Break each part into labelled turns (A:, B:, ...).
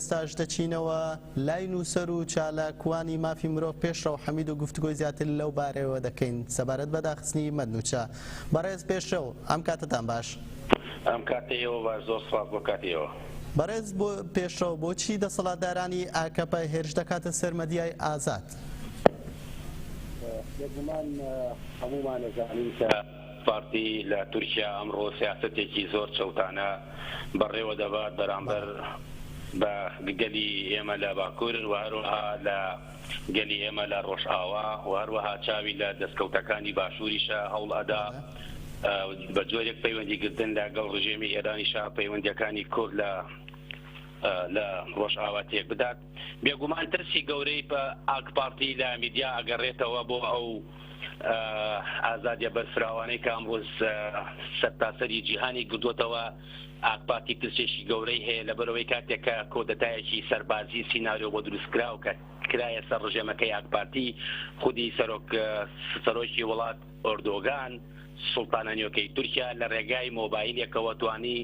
A: ئێستاش دەچینەوە لای نووسەر و چالاکوانی مافی مرۆڤ پێشڕەو حەمید و گفتوگۆی زیاتر لەو بارەیەوە دەکەین سەبارەت بە داخستنی مەدنوچە. بەڕێز پێشرەو، ئەم کاتەتان باش. ئەم کاتەی
B: ئێوە باش، زۆر سپاس بۆ کاتی ئێوە. بەڕێز
A: پێشڕەو، بۆچی دەسەڵاتدارانی ئاکەپە هێرش دەکاتە سەر مەدیای ئازاد؟ بێگومان
B: هەموومان ئەزانین کە. پارتی لە تورکیا ئەمڕۆ سیاسەتێکی زۆر چەوتانە بەڕێوە دەبات بەرامبەر بە گەلی ئێمە لە باکور و هەروەها لە گەلی ئێمە لە ڕۆژئاوا و هەروەها چاوی لە دەستکەوتەکانی باشوریشە هەوڵ ئەدا بە جۆرێک پەیوەندی گرتن لە گەڵ ڕژێمی ئێرانیشە پەیوەندیەکانی کورد لە لە ڕۆژئاوا تێک بدات. بێگومان ترسی گەورەی پە ئاکپارتی لە میدیا ئەگەڕێتەوە بۆ ئەو ئازادیە بەرفراوانەی کە ئەمڕۆ سەرتاسەری جیهانی گردووەتەوە، ئاکپارتی ترسێکی گەورەی هەیە لەبەرئەوەی کاتێک کە کۆدەتایەکی سەربازی سیناریۆ بۆ دروستکراو کە کرایە سەر ڕژێمەکەی ئاکپارتی خودی سەرۆک سەرۆکی وڵات، ئۆردۆگان، سوڵتانە نوێکەی تورکیا لە رێگای مۆبایلێکەوە توانی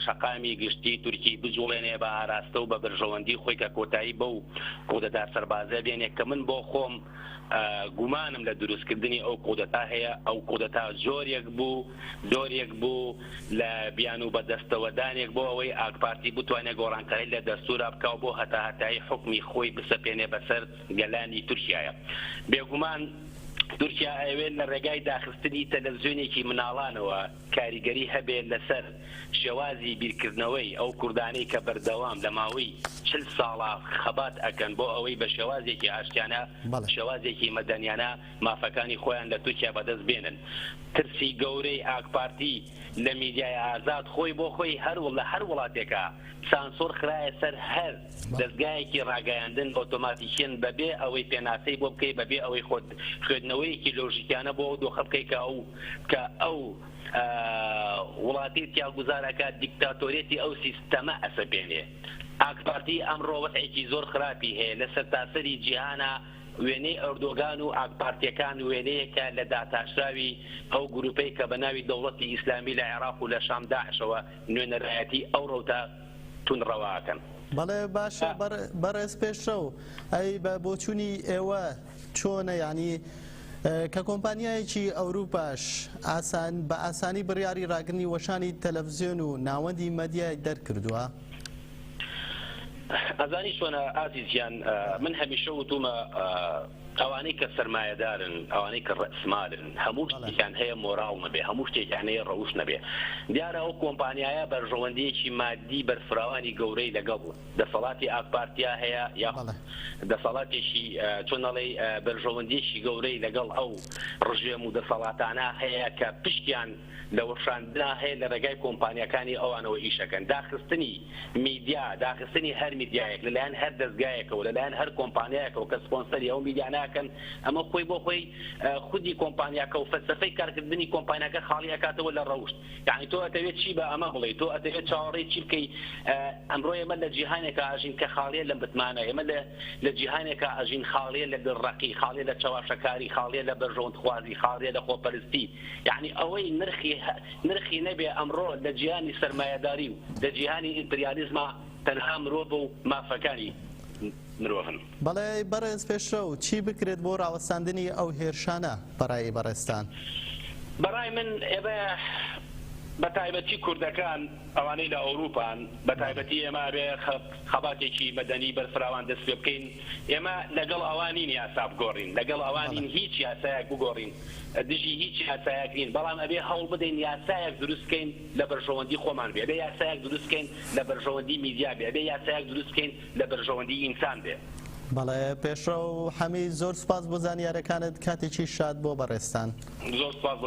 B: شەقامی گشتی تورکی بجوڵێنێ بە ئاراستە و بە بەرژەوەندی خۆی کە کۆتایی بەو کودەتا سەربازە بێنێ کە من بۆ خۆم گومانم لە دروستکردنی ئەو کودەتا هەیە ئەو کودەتا جۆرێک بوو جۆرێک بوو لە بیانوو بە دەستەوەدانێک بۆ ئەوەی ئاکپارتی بتوانێ گۆڕانکاری لە دەستورا بکا و بۆ هەتاهەتایی حوکمی خۆی بسەپێنێ بەسەر گەلانی تورکیایە. بێگومان تورکیا ئەیەوێت لە رێگای داخستنی تەلەفزیۆنێکی مناڵانەوە کاریگەری هەبێت لەسەر شێوازی بیرکردنەوەی ئەو کوردانەی کە بەردەوام لە ماوەی چل ساڵە خەبات ئەکەن بۆ ئەوەی بە شێوازێکی ئاشتیانە شێوازێکی مەدەنیانە مافەکانی خۆیان لە تورکیا بەدەست بێنن. ترسی گەورەی ئاکپارتی. لە میدیای ئازاد خۆی بۆ خۆی هەر و لە هەر وڵاتێکا سانسۆر خرایە سەر هەر دەزگایەکی ڕاگەیاندن ئۆتۆماتیکیەن بە بێ ئەوەی پێناسەی بۆ بکەی بە بێ ئەوەی خۆت خوێدنەوەیەکی لۆژیکیانە بۆ ئەو دۆخە بکەی کە ئەو کە ئەو وڵاتەی تیا گوزار ئەکات دیکتاتۆریەتی ئەو سیستەمە ئەسەپێنێ ئاکپارتی ئەمڕۆ وەزعێکی زۆر خراپی هەیە لە سەرتاسەری جیهانا. وێنەی ئەردۆگان و ئاکپارتییەکان وێنەیەکە لە داتاشراوی ئەو گروپەی کە بە ناوی دەوڵەتی ئیسلامی لە عێراق و لە شام داعشەوە نوێنەرایەتی ئەو رەوتە توندڕەوە ئەکەن. بەڵێ
A: باشە بەڕێز پێشڕەو ئەی بە بۆچونی ئێوە چۆنە یانی کە کۆمپانیایەکی ئەوروپاش بە ئاسانی بڕیاری ڕاگرنی وەشانی تەلەفزیۆن و ناوەندی مەدیای دەرکردوە؟
B: ئەزانی چۆنە ئازیز گیان من هەمیشە وتومە ئەوانەی کە سەرمایەدارن ئەوانەی کە ڕئسمالن هەموو شتێکیان هەیە مۆراڵ نەبێ هەموو شتێکیان هەیە ڕەوشت نەبێ دیارە ئەو کۆمپانیایە بەرژەوەندیەکی مادی بەرفراوانی گەورەی لەگەڵ دەسەڵاتی ئاک پارتیا هەیە یا دەسەڵاتێکی چۆن ئەڵێی بەرژەوەندیەکی گەورەی لەگەڵ ئەو ڕژێم و دەسەڵاتانە هەیە کە پشکیان لە وەشاندنا هەیە لە ڕێگای کۆمپانیاکانی ئەوانەوە ئیشەکەن داخستنی میدیا داخستنی هەر میدیایەک لە لایەن هەر دەزگایەکەوە لە لایەن هەر کۆمپانیایەکەوە کە سپۆنسەری ئەو میدیا ناکەن ئەمە خۆی بۆ خۆی خودی کۆمپانیاکە و فەلسەفەی کارکردنی کۆمپانیاکە خاڵی ئەکاتەوە لە ڕەوشت یانی تۆ ئەتەوێت چی بە ئەمە بڵێی تۆ ئەتەوێت چاوەڕێی چی بکەی ئەمڕۆ ئێمە لە جیهانێکا ئەژین کە خاڵیە لە متمانە ئێمە لە لە جیهانێکا ئەژین خاڵیە لە دڵڕەقی خاڵیە لە چەواشەکاری خاڵیە لە بەرژەوەندخوازی خاڵیە لە خۆپەرستی یەعنی ئەوەی نرخی نرخی نەبێ ئەمڕۆ لە جیهانی سەرمایەداری و لە جیهانی ئیمپریالیزما تەنها مرۆڤە و مافەکانی مرۆڤن. بەڵێ بەڕێز
A: پێشرەو، چی بکرێت بۆ ڕاوەستاندنی ئەو هێرشانە بەڕای بەڕێزتان؟ بەڕای
B: من ئێمە بەتایبەتی کوردەکان ئەوانەی لە ئەوروپان بە تایبەتی ئێمە ئەبێ خەباتێکی مەدەنی بەرفراوان دەست پێ بکەین ئێمە لەگەڵ ئەوا نین یاسا بگۆڕین لەگەڵ ئەوا نین هیچ یاسایەک بگۆڕین دژی هیچ یاسایەک نین بەڵام ئەبێ هەوڵ بدەین یاسایەک دروست بکەین لە بەرژەوەندی خۆمان بێ ئەبێ یاسایەک دروست بکەین لە بەرژەوەندی میدیا بێ ئەبێ یاسایەک دروست بکەین لە بەرژەوەندی ئینسان بێ. بەڵێ
A: پێشڕەو حەمید زۆر سوپاس بۆ زانیارەکانت کاتێکی شاد بۆ بەڕێزتان. زۆر سوپاس بۆ